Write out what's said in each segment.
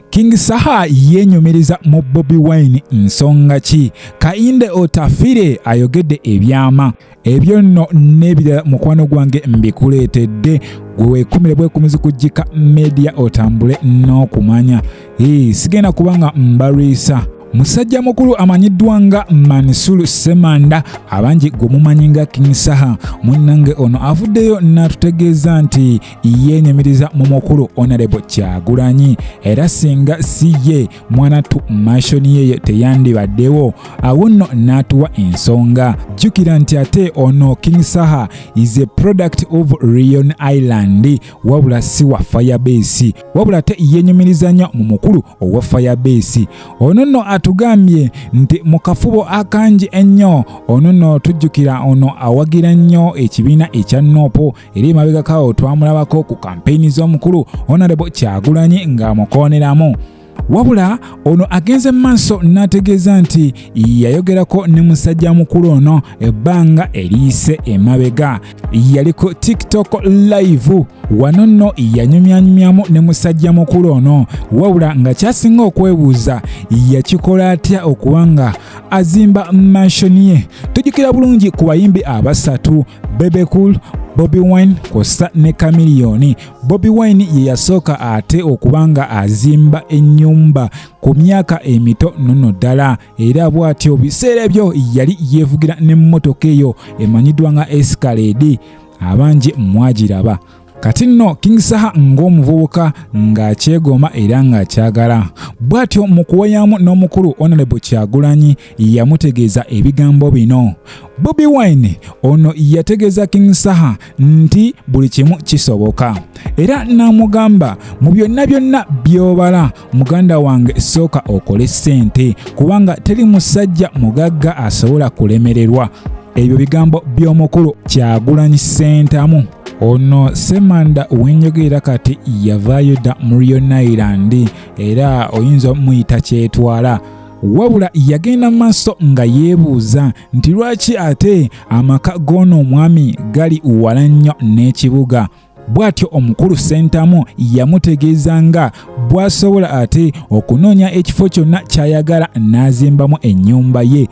King Saha yenyumiriza mu Bobi Wine nsonga ki? Kainde Otafire ayogedde ebyama ebyo nno n'ebirala mukwano gwange mbikuleetedde gwe weekumire bwekumizi kujjika media otambule n'okumanya ee sigenda kubanga mbalwisa musajja mukulu amanyiddwa nga manisulu semanda abangi gwe mumanyi nga king saha munnange ono avuddeyo n'atutegeeza nti yeenyumiriza mu mukulu onalebo kyagulanyi era singa si ye mwanattu mashoni yeyo teyandibaddewo awo nno n'atuwa ensonga jjukira nti ate ono king saha is a product of rion island wabula si wa firebase wabula ate yeenyumiriza nnyo mu mukulu owa firebase ono nno atugambye nti mu kafubo akangi ennyo ono nno tujjukira ono awagira nnyo ekibiina ekya nopo eri emabegakawo twamulabako ku kampeyini z'omukulu onarebo kyagulanyi ng'amukooneramu wabula ono agenze mu maaso n'ategeeza nti yayogerako ne musajja mukulu ono ebbanga eriyise emabega yali ku tiktok live wano nno yanyumyanyumyamu ne musajja mukulu ono wabula nga kyasinga okwebuuza yakikola atya okuba nga azimba manshoni ye tujjukira bulungi ku bayimbi abasatu Bebe Cool Bobi Wine kw'ossa ne Chameleone. Bobi Wine ye yasooka ate okuba nga azimba ennyumba ku myaka emito nono ddala era bw'atyo biseera ebyo yali yeevugira n'emmotoka eyo emanyiddwa nga Escalade abangi mwagiraba. kati nno king saha ng'omuvubuka ng'akyegoma era ng'akyagala bw'atyo mu kuwayamu n'omukulu onalebo kyagulanyi yamutegeeza ebigambo bino bobi wine ono yategeeza king saha nti buli kimu kisoboka era n'amugamba mu byonna byonna by'obala muganda wange sooka okole ssente kubanga teri musajja mugagga asobola kulemererwa ebyo bigambo by'omukulu kyagulanyi ssentamu ono semanda wenjogerera kati yavaayo dda mu rionailand era oyinza omuyita kyetwala wabula yagenda mu maaso nga yeebuuza nti lwaki ate amaka g'ono omwami gali wala nnyo n'ekibuga bw'atyo omukulu ssentamu yamutegeeza nga bw'asobola ate okunoonya ekifo kyonna ky'ayagala n'azimbamu ennyumba ye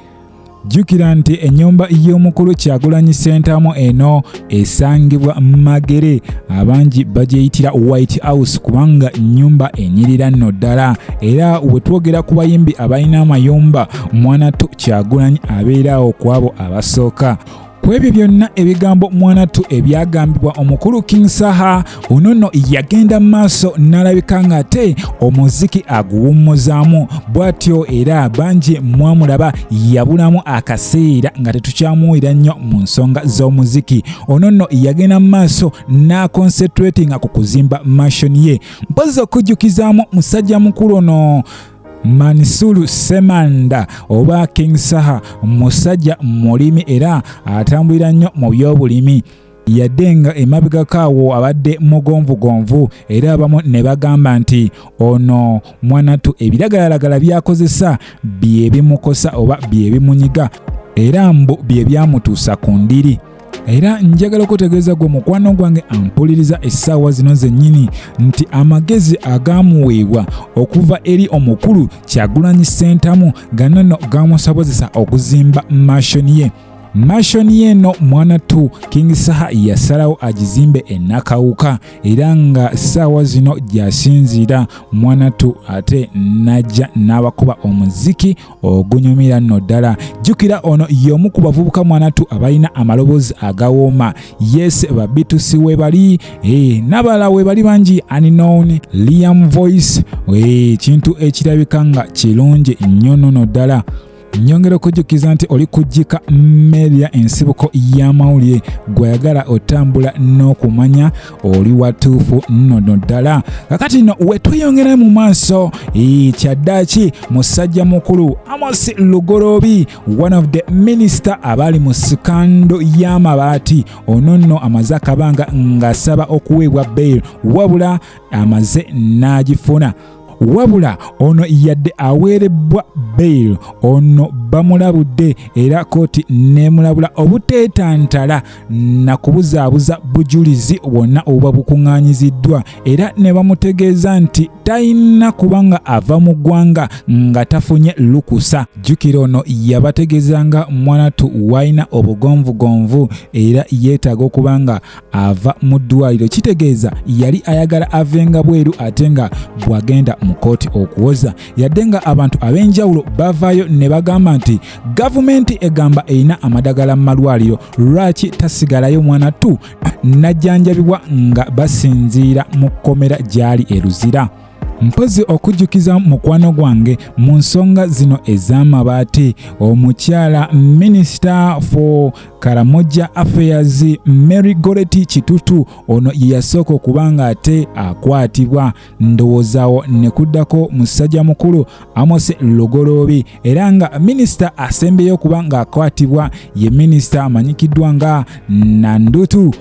jjukira nti ennyumba y'omukulu kyagulanyi ssentamu eno esangibwa magere abangi bagyeyitira white house kubanga nnyumba enyirira nno ddala era we twogera ku bayimbi abalina amayumba mwana to kyagulanyi abeeraawo ku abo abasooka ku ebyo byonna ebigambo mwanattu ebyagambibwa omukulu king saha ono nno yagenda mu maaso n'alabika ng'ate omuziki aguwummuzaamu bw'atyo era bangi mwamulaba yabulamu akaseera nga tetukyamuwulira nnyo mu nsonga z'omuziki ono nno yagenda mu maaso n'akonsetretinga ku kuzimba mashoni ye mpozi okujjukizaamu musajja mukulu ono Mansur Semanda oba King Saha musajja mulimi era atambulira nnyo mu by'obulimi yadde nga emabegako awo abadde mugonvugonvu era abamu ne bagamba nti ono mwanatu ebiragalalagala byakozesa bye bimukosa oba bye bimunyiga era mbu bye byamutuusa ku ndiri era njagala okutegeeza gwe mukwano gwange ampuliriza essaawa zino zennyini nti amagezi agaamuweebwa okuva eri omukulu kyagulanyi ssentamu ganono gaamusobozesa okuzimba mashoni ye mashoni eno mwana tu king saha yasalawo agizimbe enakawuka era nga saawa zino gyasinziira mwana tu ate najja n'abakuba omuziki ogunyumira nno ddala jjukira ono y'omu ku bavubuka mwanatu abalina amaloboozi agawooma yes babitusi webali e, n'abalala webali bangi unknown liam voice ekintu eh, ekirabika nga kirungi nnyo nono ddala nyongera okujjukiza nti oli kujjika media ensibuko y'amawulire gweyagala otambula n'okumanya oli watuufu nnono ddala kakati no wetweyongera mu maaso kyaddaki musajja mukulu amos lugorobi one of the minister abaali mu sikando y'amabaati ono nno amaze akabanga ng'asaba okuweebwa bail wabula amaze n'agifuna wabula ono yadde aweerebbwa bail ono bamulabudde era kooti neemulabula obuteetantala na kubuzaabuza bujulizi bwonna obuba bukuŋŋaanyiziddwa era ne bamutegeeza nti talina kuba nga ava mu ggwanga nga tafunye lukusa jjukira ono yabategeeza nga mwanatu walina obugonvugonvu era yeetaaga okuba nga ava mu ddwaliro kitegeeza yali ayagala avenga bweru ate nga bwagenda mu kooti okuwoza yadde nga abantu ab'enjawulo bavaayo ne bagamba nti gavumenti egamba erina amadagala mu malwaliro lwaki tasigalayo mwana tu najjanjabibwa nga basinziira mu kkomera gyali eruzira mpozi okujjukiza mukwano gwange mu nsonga zino ez'amabaati omukyala minisita for karamoja affairs mary goreti kitutu ono yeyasooka okuba nga ate akwatibwa ndowoozawo ne kuddako musajja mukulu amose lugoloobi era nga minisita asembeyo okuba ng'akwatibwa ye minisita amanyikiddwa nga nandutu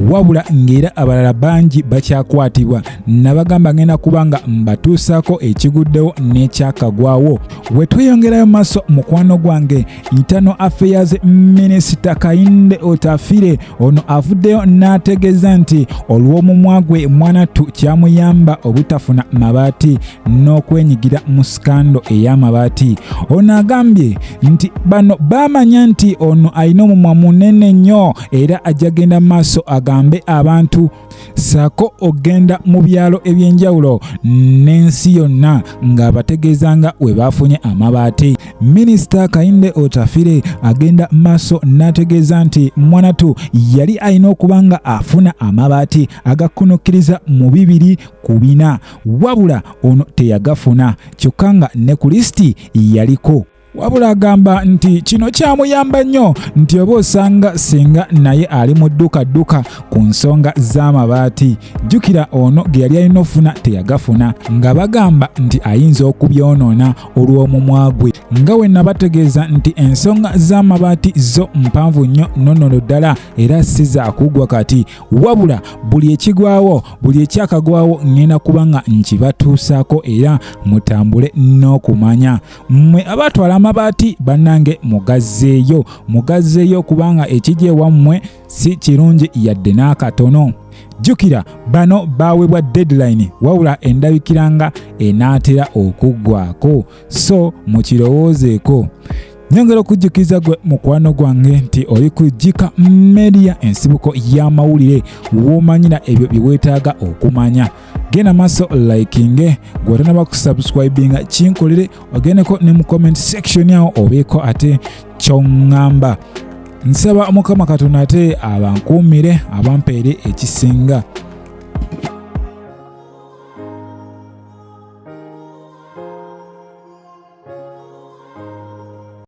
wabula ng'era abalala bangi bakyakwatibwa nabagamba ngenda kuba nga mbatuusaako ekiguddewo n'ekyakagwawo we tweyongerayo maaso mukwano gwange ntano affairs minisita kayinde otafire ono avuddeyo n'ategeeza nti olw'omumwa gwe mwanattu kyamuyamba obutafuna mabaati n'okwenyigira mu sikando ey'amabaati ono agambye nti bano baamanya nti ono alina omumwa munene nnyo era ajja genda mu maaso agambe abantu saako ogenda mu byalo eby'enjawulo n'ensi yonna ng'abategeeza nga we baafunye amabaati minisita kayinde otafire agenda maaso n'ategeeza nti mwanatu yali alina okuba nga afuna amabaati agakkunukkiriza mu bibiri ku bina wabula ono teyagafuna kyokka nga ne ku lisiti yaliko wabula agamba nti kino kyamuyamba nnyo nti oba osanga singa naye ali mu ddukadduka ku nsonga z'amabaati jjukira ono ge yali alina ofuna teyagafuna nga bagamba nti ayinza okubyonoona olw'omumwa gwe nga we nabategeeza nti ensonga z'amabaati zo mpanvu nnyo nonono ddala era si za kuggwa kati wabula buli ekigwawo buli ekyakagwawo ŋŋenda kuba nga nkibatuusaako era mutambule n'okumanya mmwe abatwala amabaati bannange mugazzeeyo mugazzeeyo kubanga ekijja ewammwe si kirungi yadde n'akatono jjukira bano baawebwa deadline wabula endabikira nga enaatera okuggwako so mukirowoozeeko nyongera okujjukiza gwe mukwano gwange nti oli ku jika media ensibuko y'amawulire w'omanyira ebyo bye weetaaga okumanya genda maaso likinge gwetanaba kusubscribinga kinkolere ogendeko ne mu comment section awo obeeko ate kyoŋŋamba nsaba mukama katonda ate abankuumire abampeere ekisinga